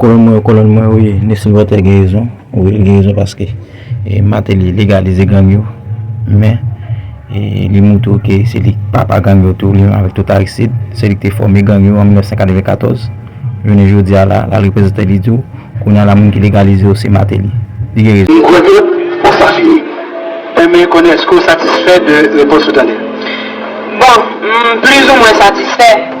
Kolonn mwen yo kolonn mwen wi Nesmy Voltaire gen rezon wi li gen rezon paske Martelly legalize gang yo men li moutre w ke se li papa gang yo tou li menm avèk tout Aristide se li ki te fòme gang yo an 1994 jounen jodi a la lal reprezante li di w kounye a la moun ki legalize yo se Martelly li gen rezon. M kwè ke ou sa fini. Renmen konnen èske ou satisfè de repons ou tande? Bon, m plizoumwen satisfè.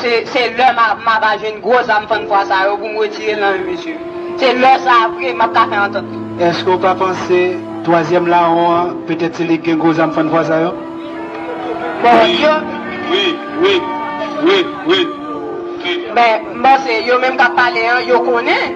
Se lè m a va jwenn gwo zam fann fwa sa yo pou m retire nan yo mesye. Se lè sa a vre m ap ka fè antant li. Eske w pa panse twazyèm lawon an petèt se li ki gen gwo zam fann fwa sa yo? Bondye. Wi, wi, wi, wi, wi. Men, m panse yo menm k ap pale an, yo konnen.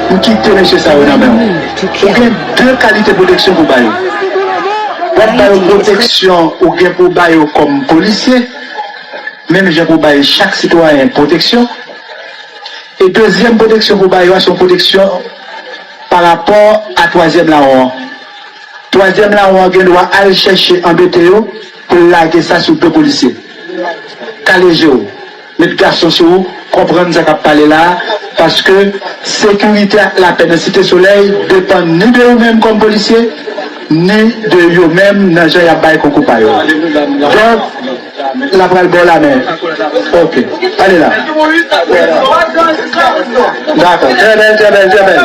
Ou kite mesye sa yo nan men ou. Ou gen 2 kalite pwoteksyon pou w ba yo. W ap ba yo pwoteksyon ou gen pou w ba yo kòm polisye, menm jan pou w bay chak sitwayen pwoteksyon. E dezyèm pwoteksyon pou w ba yo a se yon pwoteksyon pa rapò a twazyèm lawon an. Twazyèm lawon an gen dwa al chèche anbete yo pou l lage sa sou do polisye. Kale je w. Met gason sou ou konprann sa kap pale la paske sekirite ak lapè nan Site Solèy depann ni de ou menm kòm polisye ni de yo menm nan jan yap bay konkou pa yo donk la pral baw lamen ok pale la dakò trè bèl trè bèl trè bèl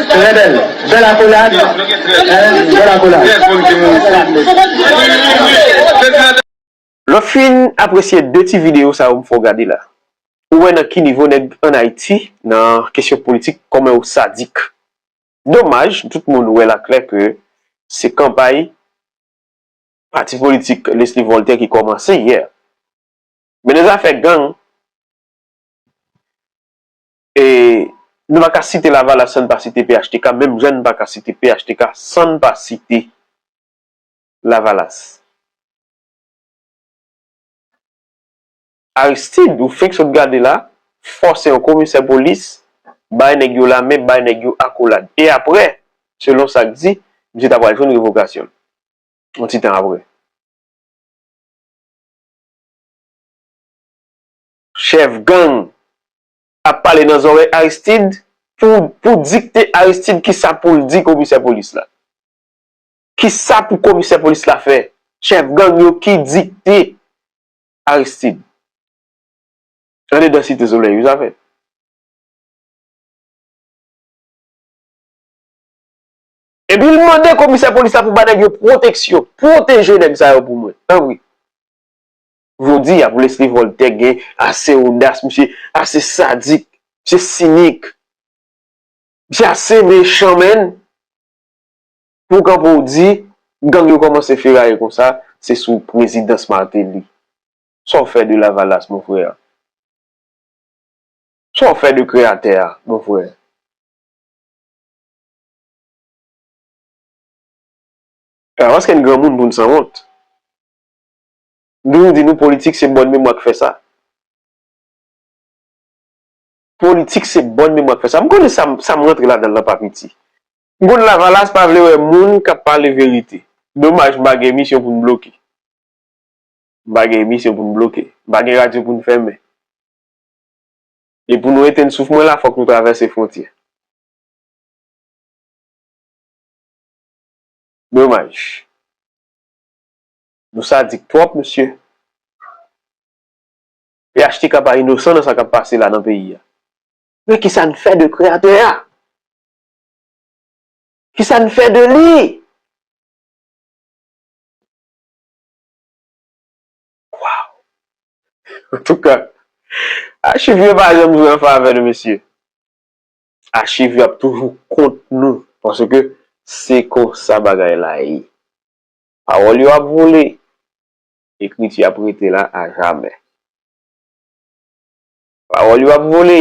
trè bèl bèl akolad bèl akolad. Lè w fin apresye 2 ti videyo sa yo m fè w gade la, ou wè nan ki nivo nèg an Ayiti nan kesyon politik kòman yo sadik. Domaj, tout moun wè l aklè ke se kanpay pati politik Lesly Voltè ki kòmanse yè. Men nan zafè gang, e nou pa ka site Lavalas san n pa site phtk, menm jan n pa ka site phtk san n pa site Lavalas. Aristide ou fenk sot gade la fòse yon komisè polis bay nèg yo lamen, bay nèg yo akolad. E aprè, selon sa k di, misye ta pral jwenn revokasyon l yon ti tan aprè. Chèf gang ap pale nan zòrèy Aristide pou dikte Aristide kisa pou l di komisè polis la. Kisa pou komisè polis la fè? Chèf gang yo ki dikte Aristid. Andedan site soley wi sa fèt. Epi l mande komisè polis la pou bay nèg yo pwoteksyon. Pwoteje nèg sa yo pou mwen. Tanpri. Jodi a pou Lesly Voltè gen ase odas, misye ase sadik, misye sinik. Misye ase mechan menn. Pou w kanpe w di, gang yo kòmanse feraye konsa, se sou prezidans Martelly. Sa w fè de Lavalas, mon frère? Sa w fè de kreyatè a, mon frère? Se pa paske n granmoun pou n sanwont. M toujou di nou politik se bòn memwa k fè sa. Politik se bòn memwa k fè sa. M konnen sa m rantre ladan l lan pa piti. Moun lavalas pa vle wè moun kap pale verite. Domaj m pa gen emisyon pou n bloke. M pa gen emisyon pou n bloke. M pa gen radyo pou n fèmen. E pou nou etenn souf mwen la fòk nou travèse fwontyè. Domaj. Nou sadik twòp mesye. Phtk pa inosan nan sa kap pase la nan peyi a. Men kisa n fè de kreyatè a? Ki sa n fè de li? Waw! Antouka, achiv yo pa janm jwe an favè nou mesye. Achiv yo ap toujou kont nou paske se konsa bagay la ye. Pawòl yo ap vole, ekriti ap rete la ajamè. Pawòl yo ap vole,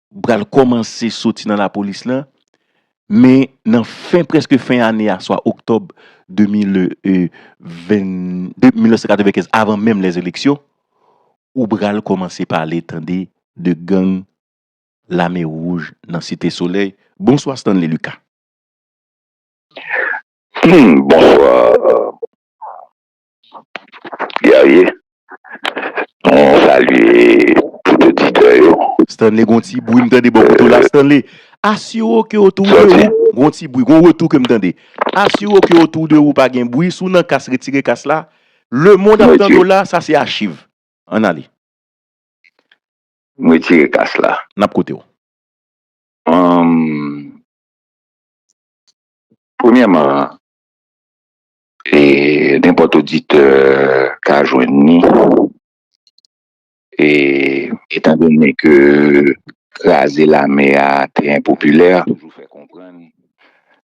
pral kòmanse soti nan lapolis lan, men nan fen prèske fen ane a swa oktòb 1995 avan menm lè eleksyon, ou pral kòmanse pale tande de gang lame wouj nan site solèy. Bonswa Stanley Lucas. Bonswa Guerrier mwen salye tout oditè yo. Stanley gon ti bwi m tande bò kote w la Stanley asire w ke otou de ou gon ti bwi gon retou ke m tande asire w ke otou de ou pa gen bwi si w nan kas retire kas la lemond ap tande w la sa se achiv ann ale. M retire kas la. N ap koute w. Premyèman E nenpòt oditè ka jwenn ni. E etan done ke kraze lame a te enpopilè,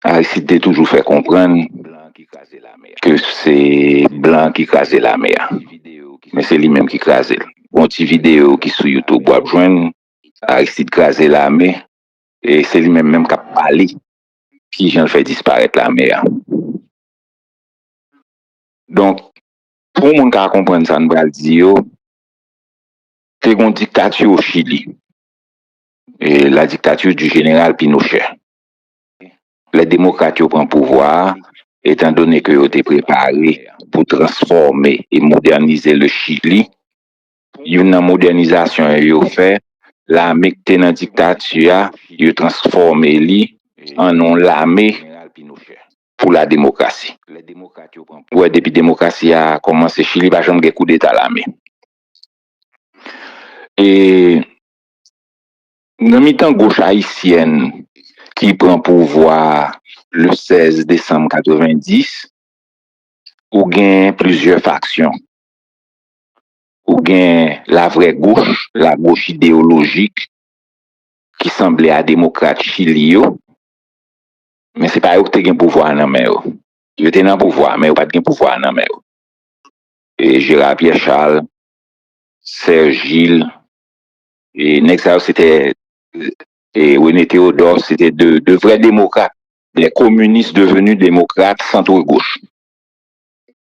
Aristide te toujou fè konprann ke se blan ki kraze lame a. Men se li menm ki kraze l. Gon ti videyo ki sou YouTube w ap jwenn Aristide kraze lame e se li menm menm k ap pale. ki jan l fè disparèt lame a. Donk, pou moun ka konprann sa n pral di yo, te gen yon diktati o Chili, la dictature du général Pinochet. Lè demokrat yo pran pouvwa a, etan done ke yo te prepare pou transfòme e modènize le Chili, youn nan modènizasyon yo fè lame k te nan diktati a yo transfòme li an yon lame pou la demokrasi ou wè depi demokrasi a kòmanse chili pa janm gen koudeta lame e nan mitan goch ayisyèn ki pran pouvwa le 16 desanm 90 ou gen plizyè faksyon. ou gen la vrè goch, la goch ideyolojik ki sanble a demokrat Chili yo, men se pa yo ki te gen pouvwa a nan men yo. Yo te nan pouvwa a, men yo pa t gen pouvwa a nan men yo. E Gérard Pierre Charles, Serge Gilles, e nèg sa yo se te, e René Théodore, se te de vrè demokrat, de kominis devenu demokrat centre gauche.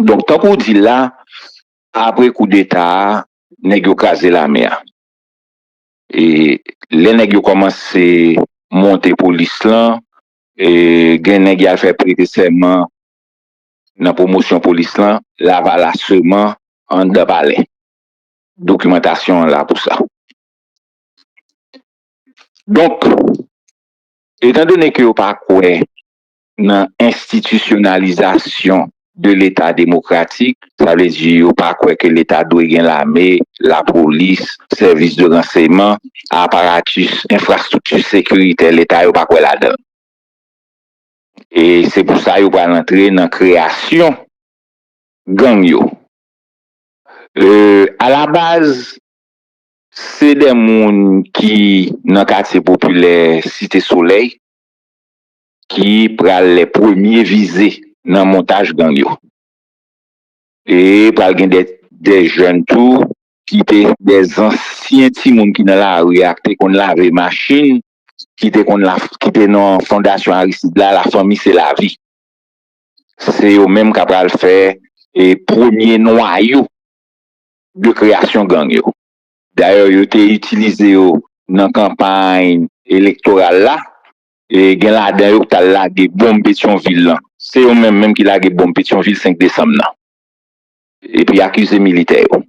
Donk tankou w di l la, apre koudeta a, nèg yo kraze lame a. E lè nèg yo kòmanse monte polis lan, e gen nèg y al fè prete sèman nan pwomosyon polis lan, lavalas sèman anndan palè. Dokimantasyon an la pou sa. Donk, etandone ke yo pa kwè nan enstitisyonalizasyon de leta demokratik, sa vle di yo pa kwè ke leta dwe gen lame, lapolis, sèvis de ranseyman, aparatus, enfrastrikti sekiritè leta yo pa kwè ladan l. E se pou sa yo pral antre nan kreyasyon gang yo. A la baz, se de moun ki nan katye popilè Site Solèy, ki pral lè premye vize nan montaj gang yo. E pral gen dè jèn tou ki te dè zansyen timoun ki nan lari a ki te konn lave machin, ki te konn ki te nan fondasyon Aristide la, la fanmi se la vi. Se yo menm ka pral fè e premye nwayo de kreyasyon gang yo. Dayè yo te itilize yo nan kanpay elektoral la Gen ladan yo ki t al lage bonm Petyonvil lan. Se yo menm menm ki lage bonm Petyonvil 5 desanm nan. Epi akize militè yo.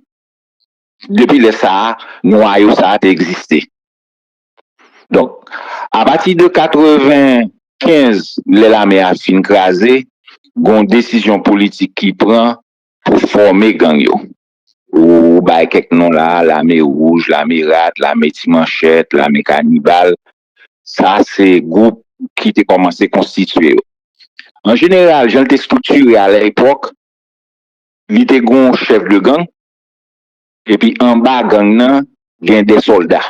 Depi lè sa a, nwayo sa a te egziste. Donk, apati de 95, lè lame a fin kraze, gen yon desizyon politik ki pran pou fòme gang yo. Ou bay kèk non la a, lame wouj, lame rat, lame ti manchèt, lame kanibal, Sa se gwoup ki te kòmanse konstitye yo. An jeneral, jan l te estriktire a lèpòk, li te gen yon chèf de gang, epi anba gang nan, gen de sòlda.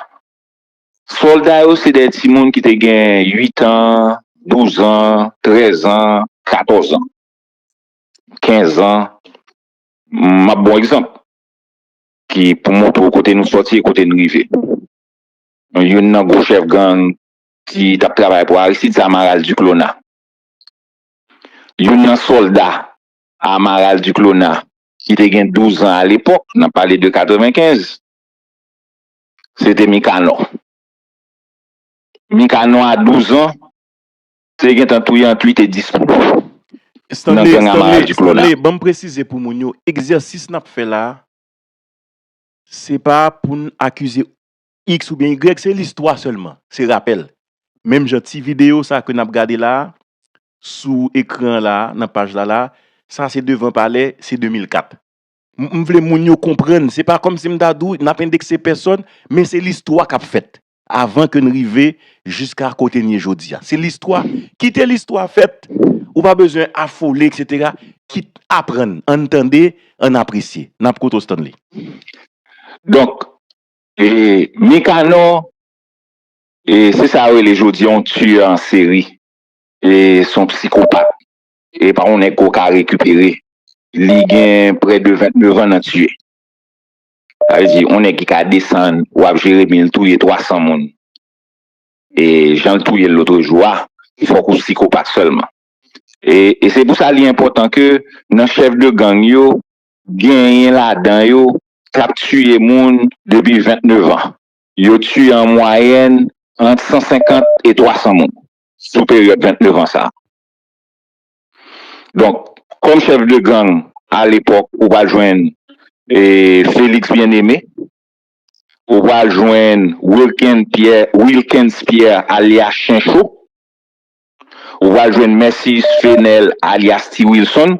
Sòlda yo se de timoun ki te gen uitan, douzan, trèzan, katòzan, kenzan. M ap ba w egzanp ki pou montre w kote nou sòti e kote n rive. youn nan gwo chèf gang ki t ap travay pou Aristide, se Amaral Duclona. Youn nan sòlda Amaral Duclona ki te gen douzan alepòk, n ap pale de 95, se te Mikanò. Mikanò a douzan te gen tan touye ant uit e dis moun nan gang Amaral Duclona. Stanley, ban m presize pou moun yo, egzèsis n ap fè la a, se pa pou n akize X oubyen Y se listwa sèlman, se rapèl. Menm jan ti videyo sa ke nap gade la a, sou ekran an la a, nan paj la la a, sa se devan palè, se 2004. M vle moun yo konprann, se pa kòmsi m ta di w nap endekse pèsòn, men se listwa kap fèt, avan ke n rive jiska kote n ye jodi a. Se listwa, kite listwa fèt, ou pa bezwen afole eksetera, kit aprann, ann tande, ann apresye. Nap koute w Stanley. Donk, E Nikanò e se sa yo rele jodi yon tueur en série e son psikopat e pa yon nèg ke w ka rekipere li gen près de 29 ans nan tuye sa vle di yon nèg ki ka desann wap jeremi l touye 300 moun e jan l touye l lotrejou a fòk ou psikopat sèlman e se pou sa li enpòtan ke nan chèf de gang yo Genyen ladan yo k ap tiye moun depi 29 an. Yo tiye an mwayèn ant 150 e 300 moun sou peryòd 29 an sa a. Donk, kòm chèf de gang alepòk, ou pral jwenn Félix Bien-Aimé, ou pral jwenn Wilkens Pierre alyas Chencho, ou pral jwenn Mercius Fenel alyas Ti Wilson,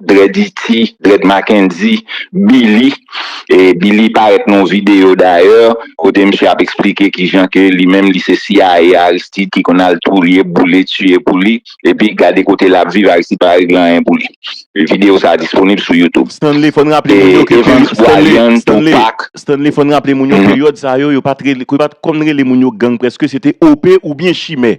Dread Iti, Dread Mackendy, Billy, e Billy parèt nan yon videyo dayè kote misye ap eksplike kijan ke li menm li se CIA Aristide ki konn al touye, boule, tiye pou li, epi gade kote lap viv Aristide pa regle anyen pou li. Videyo sa a disponib sou YouTube. Stanley fòn raple moun yo ke peri Stanley, Stanley, Stanley fòn raple moun yo peryòd sa yo yo pat rele, ke yo pat konn rele moun yo gang prèske se te OP oubyen chimè.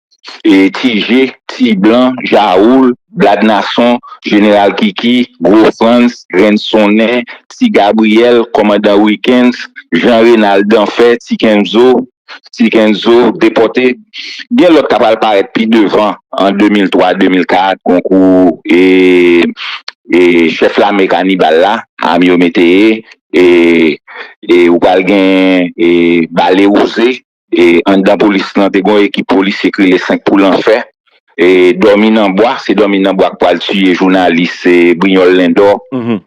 Tije, Ti Blan, Jawoul, Blad Nason, Jeneral Kiki, Gwo Frantz, Grenn Sonnen, Ti Gabriyèl, Kòmandan Wikens, Jan Renal Danfè, Ti Kenzo, Ti Kenzo, Depòte. Gen lòt k apral parèt pi devan an 2003, 2004 konkou e Chèf Lame Kanibal la, Amio Météyé e ou pral gen Bale Wouze E anndan polis lan te gen yon ekip polisye ki rele 5 pou lanfè. E dòmi nan bwa, se dòmi nan bwa ki pral tiye jounalis Brignol Lindor. Donk,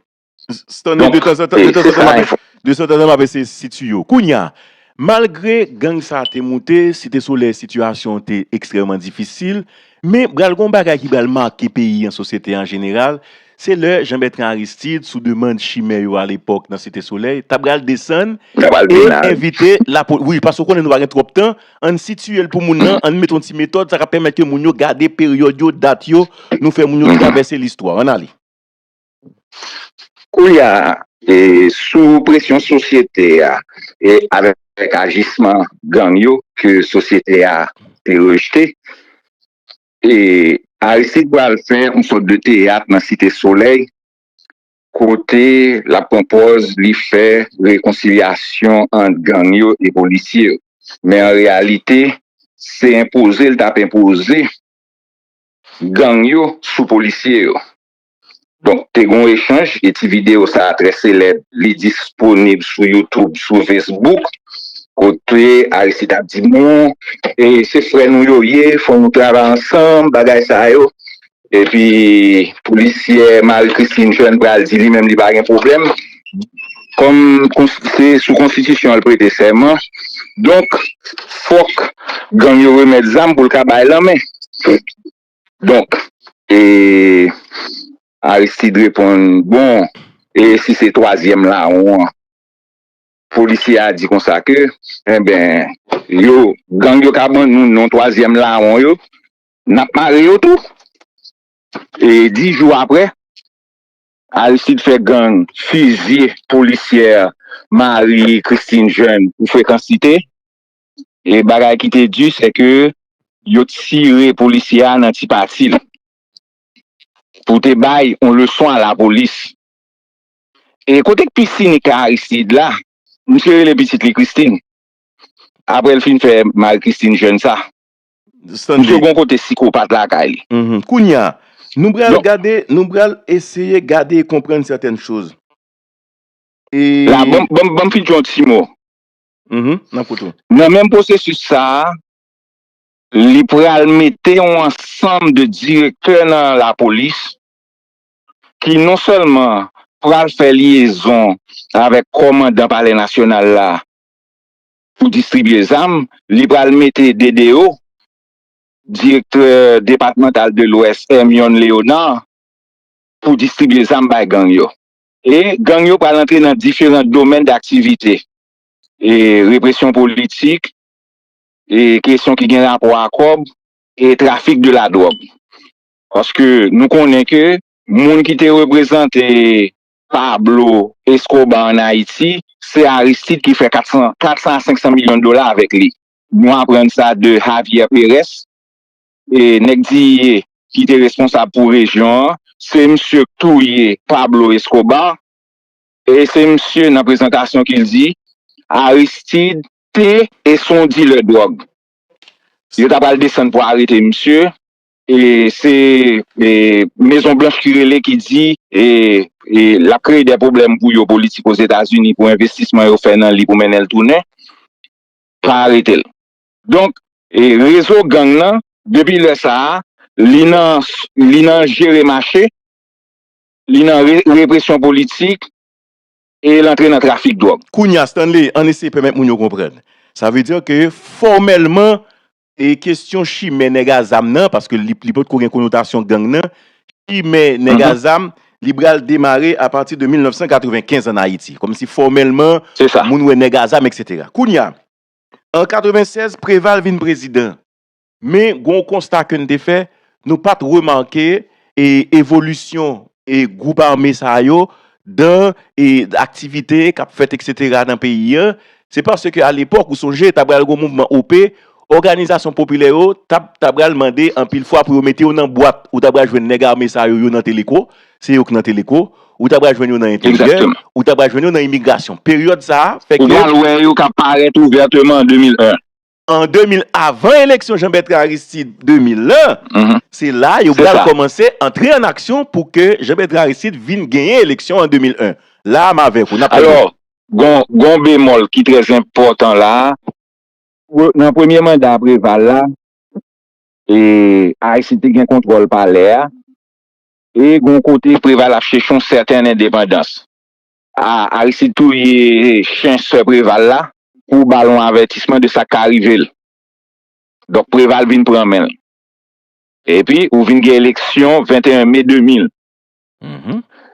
se sa enfòmasyon. Stanley, de tanzantan map, de tanzantan map eseye sitye yo. Kounya, malgre gang sa te moute, Site Solèy sitiyasyon te ekstrèman difisil, Men, pral gen yon bagay ki pral make peyi an, sosyete an jeneral, se lè Jean Bertrand Aristide, sou demand chimè yo alepòk nan Site Solèy, ta pral desann e envite lapolis. Wi, paske ou konnen nou pa gen twòp tan, an n sitiye l pou moun nan, an n met yon ti metòd, sa ka pèmèt ke moun yo gade peryòd yo, dat yo, nou fè moun yo travèse listwa. An n ale. Koulya e sou presyon sosyete a e avèk ajisman gang yo ke sosyete a te rejte e Aristide pral fè yon sòt de teyat nan site solèy kote lap pran pòz li fè rekonsilyasyon ant gang yo e polisye yo men an reyalite se enpoze li tap enpoze gang yo sou polisye yo. Donk te gen yon echanj e ti videyo sa trè selèb li disponib sou YouTube, sou Facebook kote Aristide ap di bon e se frè nou yo ye fò nou travay ansanm bagay sa yo epi polisyè Marie Christine Jeune pral di li menm li pa gen pwoblèm kòm se sou konstitisyon l prete sèman donk fòk gang yo remèt zam pou l ka bay lanmen. Donk e Aristide reponn bon e si se twazyèm lawon an polisye a di konsa ke enben yo gang yo ka ban nou non twazyèm lawon yo n ap mare yo tou e dis jou aprè Aristide fè gang fizye polisyè Marie Christine Jeune pou frekansite. E bagay ki te di se ke yo tire polisye a nan ti pati l pou te bay yon leson a lapolis. E kote k pi sinik la Aristide la, misye rele pitit li Christine apre l fin fè Marie Christine Jeune sa. Misye gon kote sikopat lakay li. Kounye a, nou pral gade, nou pral eseye gade e konprann sètèn choz. E. La, banm fin di yon ti mo. nan kout ou. Nan menm pwosesis sa a, li pral mete yon ansanm de direktè nan lapolis ki non sèlman pral fè lyezon avèk kòmandan palè nasyonal la pou distribye zam, li pral mete DDO, direktè depatmantal de lwès, Hermione Léonard, pou distribye zam bay gang yo. E gang yo pral antre nan diferan domèn daktivite, e represyon politik, e kesyon ki gen rapò a kòb, e trafik de la dwòg. Paske nou konnen ke moun ki te reprezante Pablo Escobar an Ayiti, se Aristide ki fè 400 a 500 milyon dola avèk li. Nou aprann sa de Javier Perez, Nèg Diyie ki te responsab pou rejyon an, se msye k touye Pablo Escobar, e se msye nan prezantasyon ki di Aristide te e s on dilè dwòg. Yo ta pral desann pou arete msye, e se Mezon Blanch ki rele ki di l ap kreye dè pwoblèm pou yo politik Ozetazini pou envestisman yo fè nan li pou mennen l tounen, pa arete l. Donk rezo gang lan depi lè sa a li nan li nan jere mache, li nan represyon politik e l antre nan trafik dwòg. Kounye a Stanley, ann eseye pèmèt moun yo konprann. Sa vle di ke fòmèlman e kesyon chimè nèg a zam nan, paske li li potko gen konotasyon gang nan, chimè nèg a zam li pral demare apati de 1995 ann Ayiti. Kòmsi fòmèlman moun wè nèg a zam eksetera. Kounye a, An 96, Preval vin prezidan. Men, gen yon konsta ke n te fè, nou pa t remake evolisyon gwoup ame sa yo dan aktivite k ap fèt eksetera nan peyi an. Se paske alepòk, ou sonje, ta pral gen yon mouvman OP, òganizasyon popilè yo ta pral mande anpil fwa pou yo mete yo nan bwat. Ou ta pral jwenn nèg ame sa yo, yo nan Teleko, se yo k nan teleko, ou ta pral jwenn yo nan enteryè, ou ta pral jwenn yo nan imigrasyon. Peryòd sa a fè ke. Ou pral wè yo k ap parèt ouvèteman an 2001. An 2000, avan eleksyon Jean Bertrand Aristide 2001, se la yo pral kòmanse antre an aksyon pou ke Jean Bertrand Aristide vin genyen eleksyon an 2001. La a m avèk ou, n ap pale. Alò, gon bemòl ki trè enpòtan la a. Nan premye manda Preval la, Aristide te gen kontwòl palè a, E gon kote Preval ap chèche yon sèten endepandans. A, Aristide touye chen sè Preval la pou ba l yon avètisman de sa k ka rive l. Donk Preval vin pran men l. Epi ou vin gen eleksyon 21 me 2000.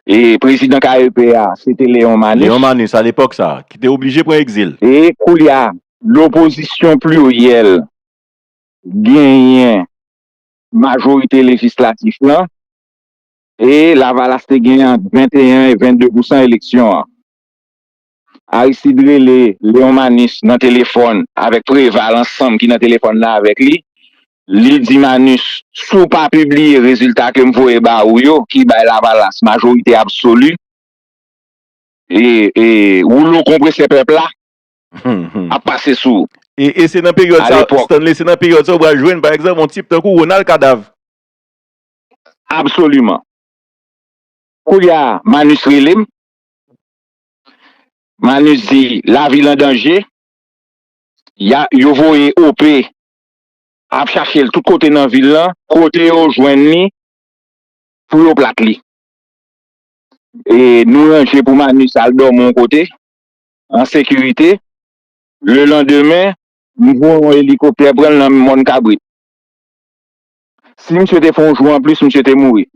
E prezidan KEP a, se te Leon Manus. Leon Manus, alepòk sa a, ki te oblije pran egzil. E koulye a, lopozisyon pliryèl genyen majorite lejislatif lan e Lavalas te gen ant 21 e 22 pousan eleksyon an. Aristide rele Leon Manus nan telefòn avèk Preval ansanm ki nan telefòn nan avèk li. Li di Manus, si w pa pibliye rezilta ke m voye ba ou yo, ki bay Lavalas majorite absoli, e woulo konpresè pèp la, ap pase sou ou. E se nan peryòd sa, Stanley, se nan peryòd sa ou pral jwenn, pa egzanp, yon tip tankou Ronald Kadav. Absoliman. Koulye a, Manus rele m. Manus di, lavi l an danje. Yo voye OP ap chache l tout kote nan vil lan. Kote yo jwenn li, pou yo plat li. E nou ranje pou Manus al dòmi yon kote. an sekirite, le landemen, m voye yon elikoptè pran l nan mòn kabrit. Si misye te fè yon jou anplis, misye te mouri.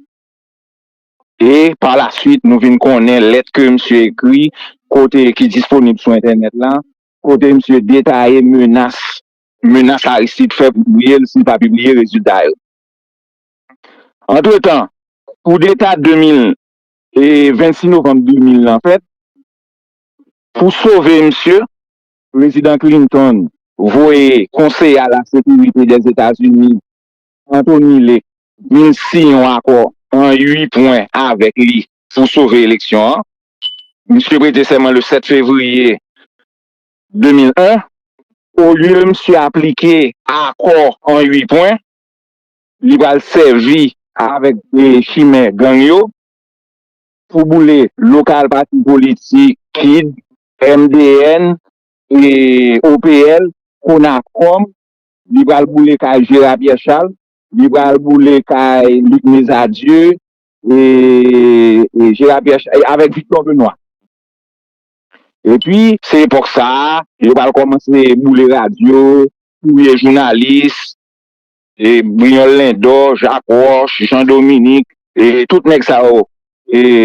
E pa la swit nou vin konnen lèt ke misye ekri, kote ki disponib sou entènèt la, kote misye detaye menas, menas Aristide fè pou touye l si l pa pibliye rezilta yo. Antretan, koudeta 2000, e 26 novanm 2000 lan fèt, Pou sove misye, Prezidan Clinton voye Konseye a la Sekirite Dèzetazini, Anthony Lake, vin siyen yon akò an 8 pwen avèk li pou sove eleksyon an. Misye prete sèman le 7 fevriye 2001. Olye misye aplike akò an 8 pwen, li pral sèvi avèk chimè gang yo. Pou boule lokal pati politik kid, MDN, OPL, Konakòm, li pral boule kay Jera Pyè Chal, li pral boule kay Lik Mezadye, avèk Viktò Benwa. Epi, se epòk sa a, yo pral kòmanse boule radyo, touye jounalis. Brignol Lindor, Jacques Roche, Jean Dominique, tout nèg sa yo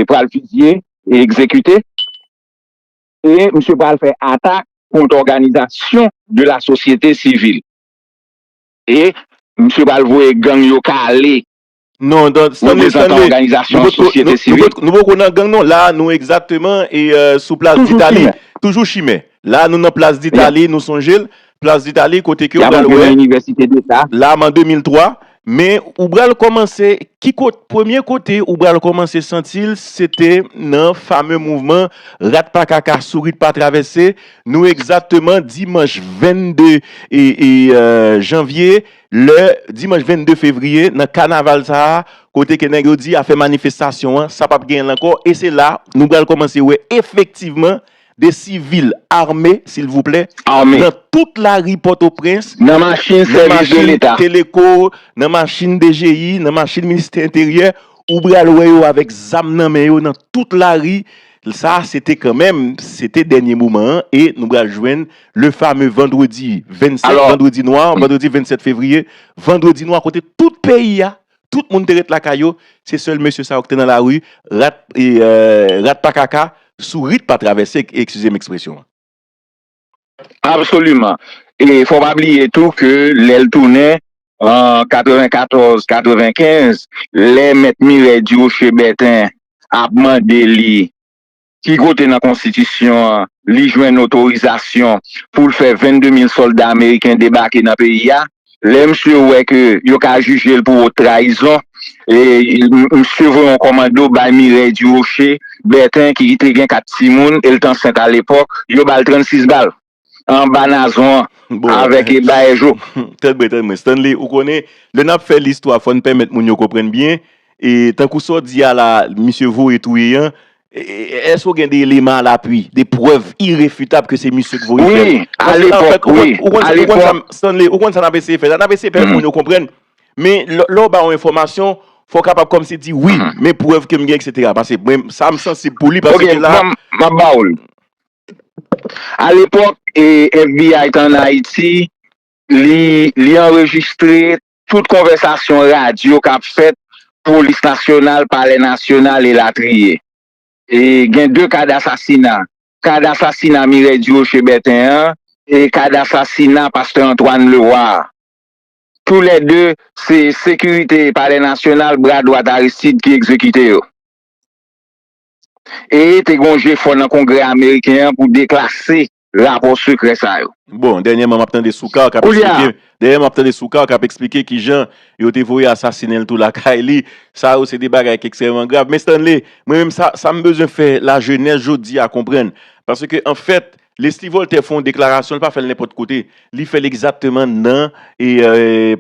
pral fizye e egzekite. E misye pral fè atak kont òganizasyon de la sosyete sivil. E misye pral voye gang yo kale. Non, non, Stanley, Stanley, nou poko nan gang non, la nou egzakteman e sou plas ditali, toujou chimè, la nou nan plas ditali, nou sonjel, plas ditali kote ke ou bral wè, la man 2003, men ou bral komanse, ki kote, premye kote ou bral komanse santil, se te nan fame mouvman, rat pa kaka, sourit pa travese, nou egzakteman dimanj 22 janvye 19. lè dimanch 22 fevriye nan kanaval sa a kote ke nèg yo di afè manifestasyon an sa pap genyen l ankò e se la nou pral kòmanse wè efektivman de sivil ame silvouplè nan tout lari pòtoprens nan machin teleko nan machin dgi nan machin ministè enteryè ou pral wè yo avèk zam nan men yo nan tout lari Sa a se te kanmenm, se te dènye moman an e nou pral jwenn le fame vandredi 27, vandredi nwa, vandredi 27 fevriye, vandredi nwa kote tout peyi a, tout moun te ret lakay yo, se sèl mesye sa yo ki te nan lari, rat pa kaka, sourit pa travèse, eskize m ekspresyon an. Absoliman e fò pa bliye tou ke lè l tounen an 94, 95 lè mèt Mirèy Diwoche Bèten ap mande li ki kote nan konstitisyon an li jwenn otorizasyon pou l fè 22 mil sòlda ameriken debake nan peyi a. Lè misye wè ke yo ka jije l pou wot trayizon, misye voye yon kòmando bay Mireille Durocher Bertin ki te gen 4 timoun, e l t ansent alepòk, yo ba l 36 bal anba nazon an avèk baèjo. Tèt mwen, tèt mwen. Stanley, ou konnen, lè n ap fè listwa fò n pèmèt moun yo konprann byen, tankou sa w di a la misye voye touye an, Èske ou gen de eleman a lapui, de prèv irefitab ke se misye ki voye fè l? Wi, alepòk, wi, alepòk. Stanley, ou konn sa n ap eseye fè la? N ap eseye fè moun yo konprann. Men, lè ou ba yon enfòmasyon, fò w kapab kòmsi di, wi, men prèv ke m gen, eksetera. Pase, mwen, sa m sansib pou li, paske la. Ok, m ap ba ou l. Alepòk, FBI te ann Ayiti, li, li anrejistre tout konvèsasyon radyo k ap fèt, polis nasyonal, palè nasyonal, elatriye. Gen 2 ka dasasina, ka dasasina Mireille Durocher Bertin an e ka dasasina pastè Antoine Leroy a. Tou lè 2, se sekirite palè nasyonal, bra dwat Aristide, ki egzekite yo. E te gen yon jefò nan Kongrè ameriken an pou deklase rapò sekrè sa yo. Bon, dènyèman m ap tande Soukar k ap eksplike, dènyèman m ap tande Soukar k ap eksplike ki jan yo te voye asasinen l tou lakay li, sa yo se de bagay ki ekstrèmeman grav. Men Stanley, mwen menm sa, sa m bezwen fè lajenès jodi a konprann, paske an fèt, Leslie Voltaire fè yon deklarasyon, l pa fè l nenpòt kote. Li fè l egzakteman nan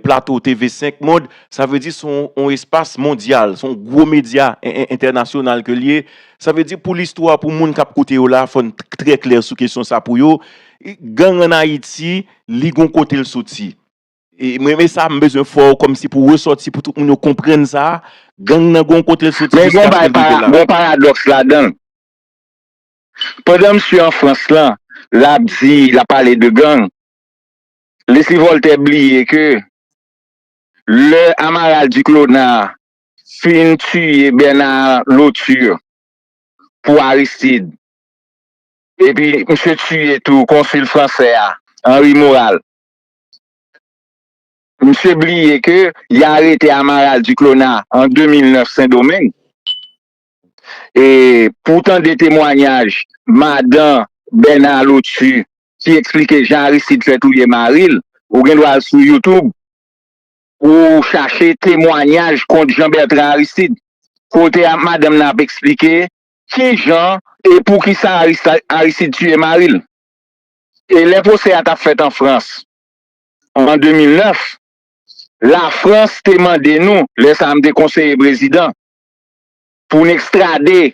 Plato TV 5 Monde, sa vle di son yon espas mondyal, son yon gwo medya entènasyonal ke l ye. Sa vle di pou listwa, pou moun k ap koute yo la, fò n trè klè sou kesyon sa pou yo. Gang an Ayiti, li gon kote l soti. Mwen men sa m bezwen fè w kòmsi pou resòti pou tout moun yo konprann sa, gang nan gon kote l soti jiskaske l rive la. Men gon bagay, gon paradòks ladan l. Pandan msye an Frans lan, lap di, lap pale de gang, Leslie Voltaire bliye ke lè Amaral Duclona fin tiye Bernard Lauture pou Aristide, epi msye tiye tou konsil fransè a, Henri Moral, msye bliye ke y arete Amaral Duclona an 2009 Sendomeng. e pou w tande temwanyaj madan Bèna Lotu ki eksplike jan Aristid fè touye mari l, ou gen dwa al sou YouTube pou w chache temwanyaj kont Jean Bertrand Aristide kote madanm nan ap eksplike ki jan e pou ki sa Aristide tiye mari l. E lè pwosè a t ap fèt an Frans an 2009, Lafrans te mande nou, lè sa a m te konseye prezidan, pou n ekstrade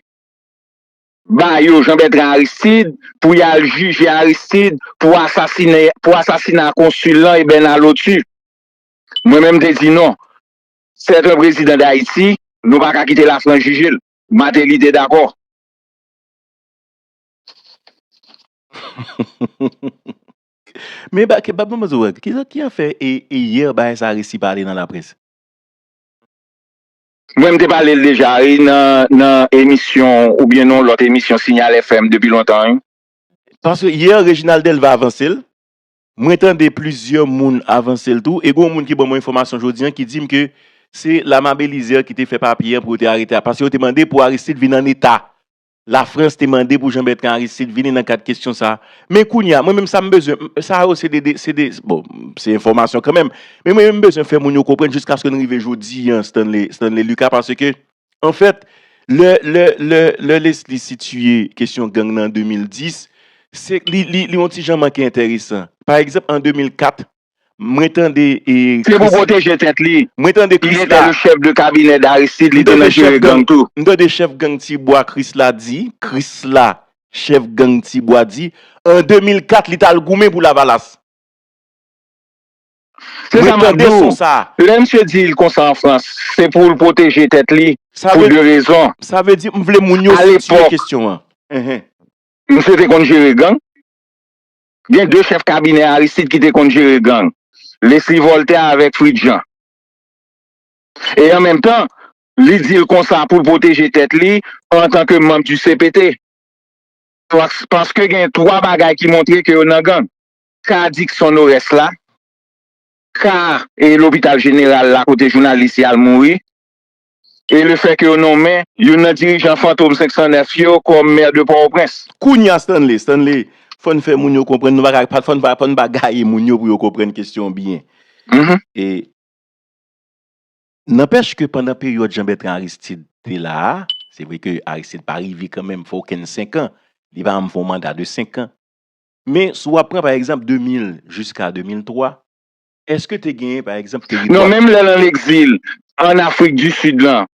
ba yo Jean Bertrand Aristide pou y al jije Aristide pou asasine pou asasina konsil lan e Bernard Lotu. Mwen menm m te di non, c'est un président d'Haïti, nou pa ka kite Lafrans jije l. Martelly te dakò. Men ba ke ba ban mwen di w bagay, ki sa ki a fè e e yè bagay sa a resi pale nan laprès? Mwen m te pale l deja wi nan emisyon ou byen nan yon lòt emisyon Signal FM depi lontan wi. Paske hier Reginald Delva avanse l, mwen tande plizyè moun avanse l tou e gen yon moun ki ban mwen enfòmasyon jodi an ki di m ke se Lama Belizaire ki te fè papye an pou yo te arete a paske yo te mande pou Aristide vin an eta Lafrans te mande pou Jean-Bertrand Aristide vini nan kad kesyon sa a. Men kounye a, mwen menm sa m bezwen, sa yo se 2, se 2, bon, se enfòmasyon kanmenm, men mwen menm m bezwen fè moun yo konprann jiskaske n rive jodi an Stanley, Stanley Lucas, paske, anfèt, lè, lè, lè, lè Leslie sitiye kesyon gang nan an 2010, se, li, li, li on ti jan manke enteresan. Pa egzanp, an 2004, Mwen tande e Christie. Se pou pwoteje tèt li. Mwen tande Christie la. Li te le chef de cabinet d'Aristide, li te nan jere gang tou. M tande chèf gang Tibwa Christie la di, Christie la, chèf gang Tibwa di, an 2004 li t al goumen pou Lavalas. Se sa m ap di w. Lè misye di l konsa an Frans, se pou l pwoteje tèt li pou 2 rezon. Sa vle di, m vle moun yo sitye kesyon an. Misye te konn jere gang. Gen 2 chèf kabinè Aristide ki te konn jere gang, Lesly Voltaire avèk Fritz Jean. E an menm tan, li di l konsa pou l pwoteje tèt li antan ke manb di cpt. Paske gen 3 bagay ki montre ke yo nan gang. Ka Dickson Norest la, ka lopital jeneral la kote jounalis y al mouri, e le fè ke yo nonmen youn nan dirijan fantom 509 yo kòm Mè de Pòtoprens. Kounye a Stanley, Stanley, fò n fè moun yo konprann, nou pa ka, fò n pa, fò n pa gaye moun yo pou yo konprann kesyon an byen. E, nanpèch ke pandan peryòd Jean Bertrand Aristide te la a, se vre ke Aristide pa rive kanmenm fè okenn senkan, li pa janm fè yon manda de senkan, men si w ap pran pa egzanp 2000 jiska 2003, Eske te genyen pa egzanp teritwa. Non menm lè l an egzil an afrik di sid lan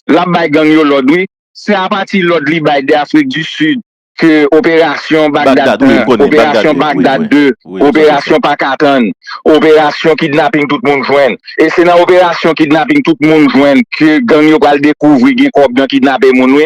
l ap bay gang yo lòd wi. Se apati lòd li bay de afrik di sid ke operasyon bagdad 1 operasyon bagdad 2 operasyon pa ka tann operasyon kidnaping tout moun jwenn e se nan operasyon kidnaping tout moun jwenn ke gang yo pral dekouvri gen kòb nan kidnape moun wi.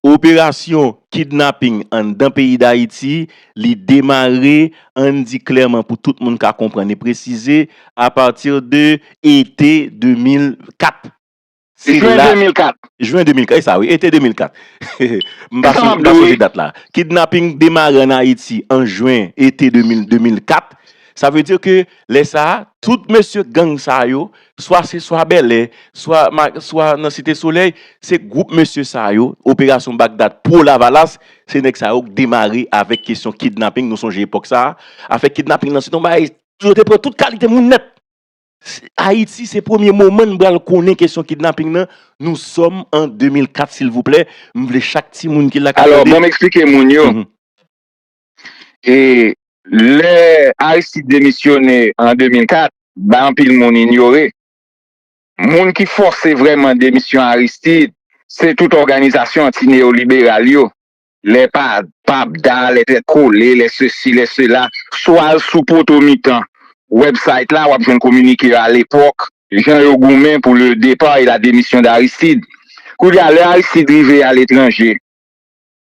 Operasyon kidnaping anndan peyi Dayiti, li demare, ann di klèman pou tout moun ka konprann e presize, apati de ete 2004. Se la. Jwen 2004. Jwen 2004, e sa wi, ete 2004. M pa sonje dat la. Kidnaping demare ann Ayiti an jwen, ete 2004. Sa vle di ke lè sa a, tout mesye gang sa yo, swa se swa Bèlè, swa swa nan Site Solèy, se gwoup mesye sa yo, operasyon Bagdad pwo Lavalas, se nèg sa yo k demare avèk kesyon kidnaping, nou sonje epòk sa, afè kidnaping lan se t yon bagay, yo te pran tout kalite moun nèt. Ayiti se premye moman n pral konnen kesyon kidnaping lan, nou sòm an 2004 silvouplè, m vle chak timoun ki la k ap tande. Alò, banm eksplike moun yo. E lè Aristide demisyone an 2004, bay anpil moun inyore. Moun ki fòse vrèman demisyon Aristide, se tout òganizasyon anti-neyoliberal yo. Lè PAPDA, lè Tèt Kole, lè sesi, lè sela. Si w al sou poto mitan website la, w ap jwenn kominike yo alepòk, jan yo goumen pou le départ et la démission d'Aristide. Koulye a, lè Aristide rive aletranje,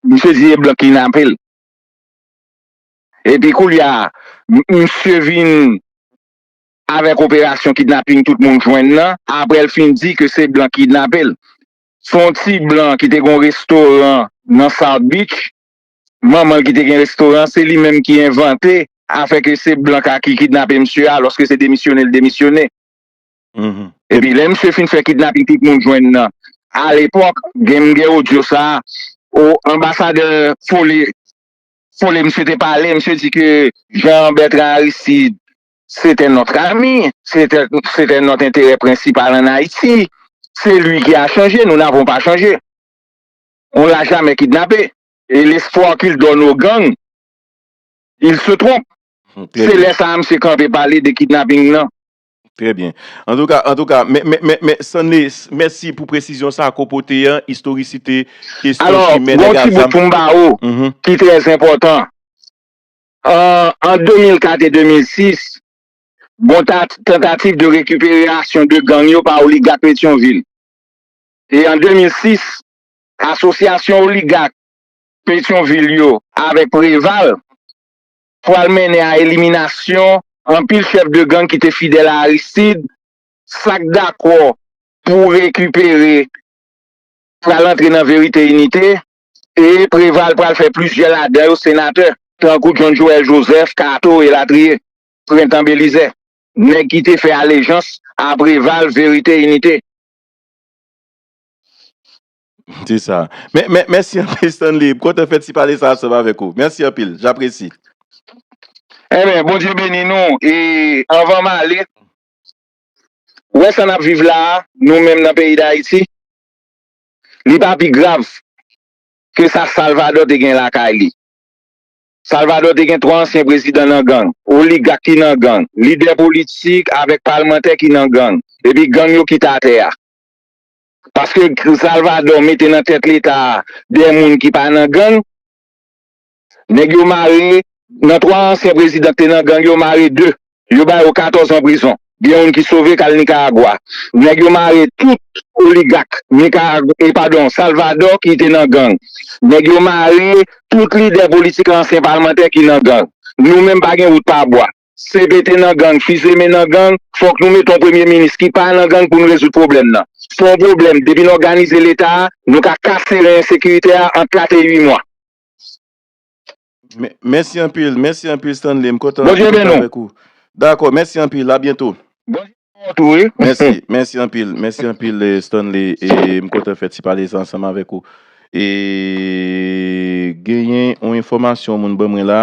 Misye di e blan ki napel. Epi koulya misye vin avek operasyon kidnaping tout moun jwenn nan aprel fin di ke se blan ki kidnapel. Son ti blan ki te gon restoran nan south beach manmanl ki te gen restoran se li menm ki envante afè ke se blan ka ki kidnape misye aloske se demisyonel demisyone. Epi lè misye fin fè kidnaping tout moun jwenn nan alepòk gen m gen odyo sa o anbasadè fole fole misye te pale misye di ke Jean Bertrand Aristide se tè nòt ami se tè se tè nòt enterè prensipal an Ayiti se li ki a chanje nou n'avons pas chanje on l'a jamais kidnape e lespwa k'il donne o gang il se tromp se lè sa a misye kanpe pale de kidnaping nan. Trè byen. Antouka, antouka, men, men, men, men, Stanley, mèsi pou presizyon sa ke w pote an, istorisite kesyon Alò, chimè gon nèg ak ti bout zam. pou m ba ou, ki trè enpòtan. An, an 2004 e 2006, gon ta, tantativ de rekiperasyon de gang yo pa oligat Petyonvil. E an 2006, asosyasyon oligat Petyonvil yo avèk Preval, pral mennen a eliminasyon anpil chèf de gang ki te fidèl a Aristide, sa k dakò pou rekipere pral antre nan Verite Inite, e Preval pral fè plizyè ladan yo senatè, tankou John Joël Joseph, Kato, elatriye. Prentan Belizè, nèg ki te fè alejans a Preval, Verite Inite. Se sa. Mè, mè, mèsi anpil Stanley. M kontan fè ti pale sa ansanm avèk ou. Mèsi anpil. J'apresi. Amen, Bondye beni nou e anvan m ale wè sa nap viv la a nou menm nan peyi Dayiti li pa pi grav ke sa Salvadò te gen lakay li. Salvadò te gen 3 ansyen prezidan nan gang, oligak ki nan gang, lidè politik avèk palmantè ki nan gang, epi gang yo kite atè a. Paske Salvador mete nan tèt leta a 2 moun ki pa nan gang. Nèg yo mare nan 3 ansyen prezidan ki te nan gang yo mare 2. Yo ba yo 14 an prizon. Gen youn ki sove k al Nicaragua. Nèg yo mare tout oligak Nicaragua e padon Salvador ki te nan gang. Nèg yo mare tout lidè politik ansyen palmantè ki nan gang. Nou menm pa gen wout pa bwa. CB te nan gang, Fils-Aimé nan gang, fòk nou mete yon premye minis ki pa nan gang pou nou rezoud pwoblèm nan. Se yon pwoblèm, depi n òganize Leta a, nou ka kase ren ensekirite a an 4 e 8 mwa. Mèsi anpil, mèsi anpil Stanley, m kontan anpil pou travay kou. Dakò, mèsi anpil, a byento. Mèsi, mèsi anpil, mèsi anpil Stanley, e m kontan fè ti pale sa ansanm avèk ou. E genyen yon enfòmasyon yon moun ban mwen la.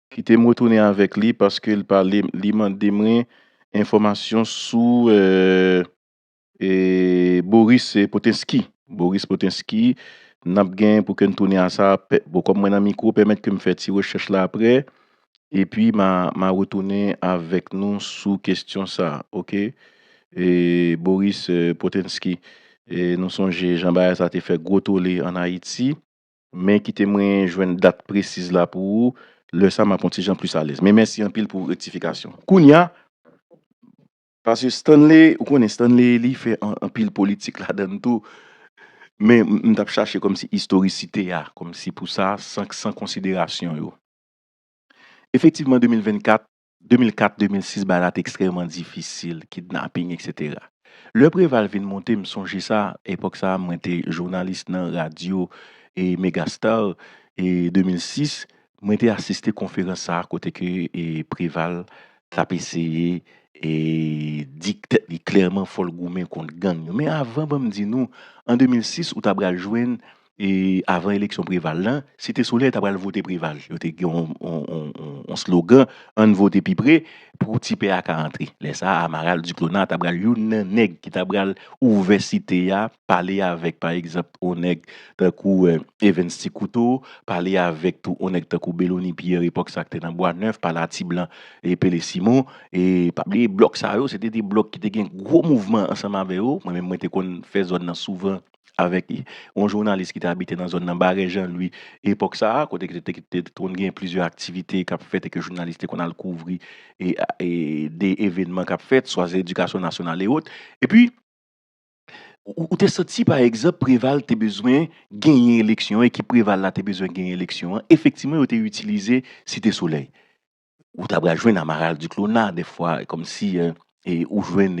Kite m retounen avèk li paske l pale m li mande mwen enfòmasyon sou e Boris Potinsky Boris Potinsky n ap gen pou ke n tounen a sa pè bon kòm mwen nan mikwo pèmèt ke m fè ti rechèch la aprè epi m a m a retounen avèk nou sou kesyon sa a ok e Boris Potinsky e nou sonje jan bagay sa te fè gwo tole ann Ayiti. Men kite mwen jwenn dat presiz la pou ou, lè sa map on ti jan plis alèz. Men mèsi anpil pou rektifikasyon. Kounya, paske Stanley, ou konnen Stanley li fè anpil politik ladann tou, men m tap chache kòmsi istorisite a, kòmsi pou sa, san konsiderasyon yo. Efektivman 2024, 2004, 2006 bagay la te ekstrèman difisil, kidnaping etc. Lè Preval vin monte m sonje sa, epòk sa mwen te jounalis nan radyo Megastar, 2006 mwen te asiste konferans sa kote ke Preval t ap eseye di tèt li klèman fò l goumen kont gang yo. Men avan ban m di nou, an 2006 ou ta pral jwenn E avan eleksyon Preval lan, Site Solèy ta pral vote Preval. Yo te gen yon slogan, Ann vote pi pre pou ti pè a ka antre. Lè sa a, Amaral Duclona ta pral youn nan nèg ki ta pral ouvè Site a, pale avèk pa egzanp yon nèg tankou Evens Ti Kouto, pale avèk tou yon nèg tankou Belony Pierre epòk sa a ki te nan Bwa Nèf, pale a Ti Blan e Pele Simon. E pa bliye blòk sa yo, se te de blòk ki te gen gwo mouvman ansanm avè yo. Mwen menm mwen te konn fè zòn nan souvan. avèk yon jounalis ki te abite nan zòn nan, Barè Jan Lwi, epòk sa a, kote ki te konn gen plizyè aktivite k ap fèt e ke jounalis te konn al kouvri de evènman k ap fèt, swa se edikasyon nasyonal e ot. E pi, ou te santi pa egzanp Preval te bezwen genyen eleksyon, ekip Preval la te bezwen genyen eleksyon an, efektivman yo te itilize Site Solèy. ou ta pral jwenn Amaral Duclona dèfwa kòmsi ou jwenn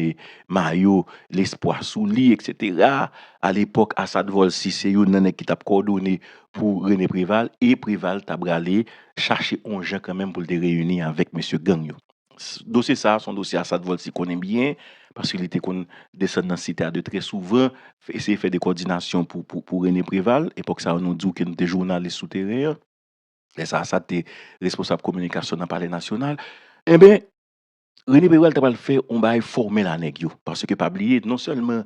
mayo Lespwa sou li eksetera. Alepòk Asad Vòlsi se youn nan nèg ki t ap kòdone pou Rene Preval e Preval ta prale chache yon jan kanmenm pou l te reyini avèk mesye gang yo. Dosye sa a se yon dosye Asad Vòlsi konnen byen paske li te konn desann nan Site a de trè souvan eseye fè de kòdinasyon pou Rene Preval. Epòk sa a nou di w ke nou te jounalis sou teren an. Lè sa a, sa te responsab kominikasyon nan palè nasyonal. Enben, Rene Peral ta pral fè yon bagay fòmèl a nèg yo. Paske pa bliye, non sèlman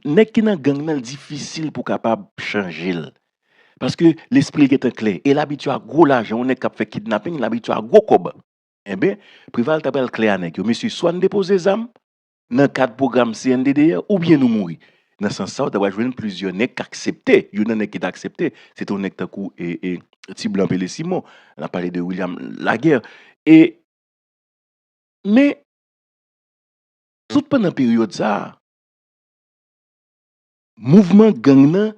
nèg ki nan gang nan, li difisil pou w kapab chanje l. Paske lespri l gen tan klè. E l abitye a gwo lajan. Yon nèg k ap fè kidnaping, li abitye a gwo kòb. Enben, Preval ta pral klè a nèg yo, Mesye, swa n depoze zam, nan kad pwogram CNDDR oubyen nou mouri. Nan sans sa ou ta pral jwenn plizyè nèg k aksepte, youn nan nèg ki ta aksepte se te yon nèg tankou Ti Blan Pele Simon, n ap pale de William Laguerre e men tout pandan peryòd sa a mouvman gang nan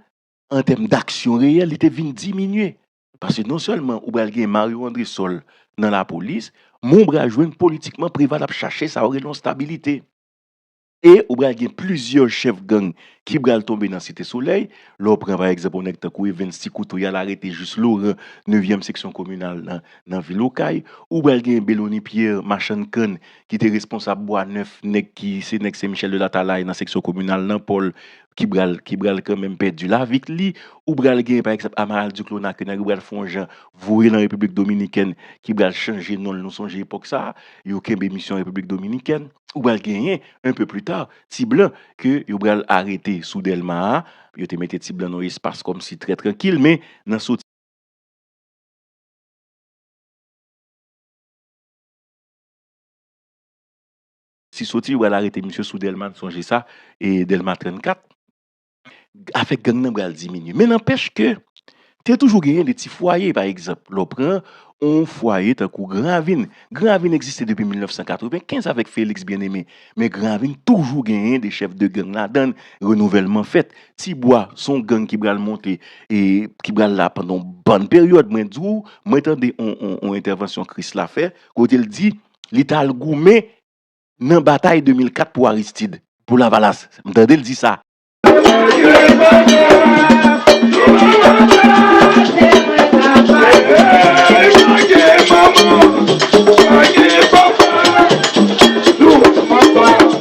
an tèm daksyon reyèl li te vin diminye. Paske non sèlman ou pral gen Mario Andresol nan lapolis, men ou pral jwenn politikman Preval ap chache sa yo rele yon stabilite. E ou pral gen plizyè chèf gang ki pral tonbe nan Site Solèy. Lè w pran pa egzanp yon nèg tankou Evens Ti Kouto y al arete Juste Laurent, nevyèm seksyon kominal nan vil Okay. Ou pral gen Bellony Pierre, machann kann ki te responsab Bwa Nèf, nèg ki se nèg Sen Michèl de Latalay nan seksyon kominal nan Pòl. ki bral ki bral kanmenm pèdi lavit li ou bral gen pa egzanp Amaral Duclona ke nèg yo bral fon jan voye nan Repiblik Dominikèn ki bral chanje non l nou sonje epòk sa yo kenbe misyon Repiblik Dominikèn ou bral genyen enpe pli ta ti blan ke yo bral arete sou Dèlma a yo te mete ti blan nan yon espas kòm si trè trankil men nan sou Si soti yo bal arete misye sou delma n sonje sa e delma 34 afè gang nan bal diminye men nanpèch ke te toujou genyen de ti fwaye pa egzanp lè w pran yon fwaye tankou gran ravin gran ravin egziste depi 1995 avèk feliks byen eme men gran ravin toujou genyen de chèf de gang ladan n renouvèlman fèt ti bwa son gang ki bal monte e ki bal la pandan yon bann peryòd mwen di w mwen tande yon entèvansyon krisla fè kote l di. li t al goumen nan batay 2004 pou Aristid, pou Lavalas. M tande l di sa.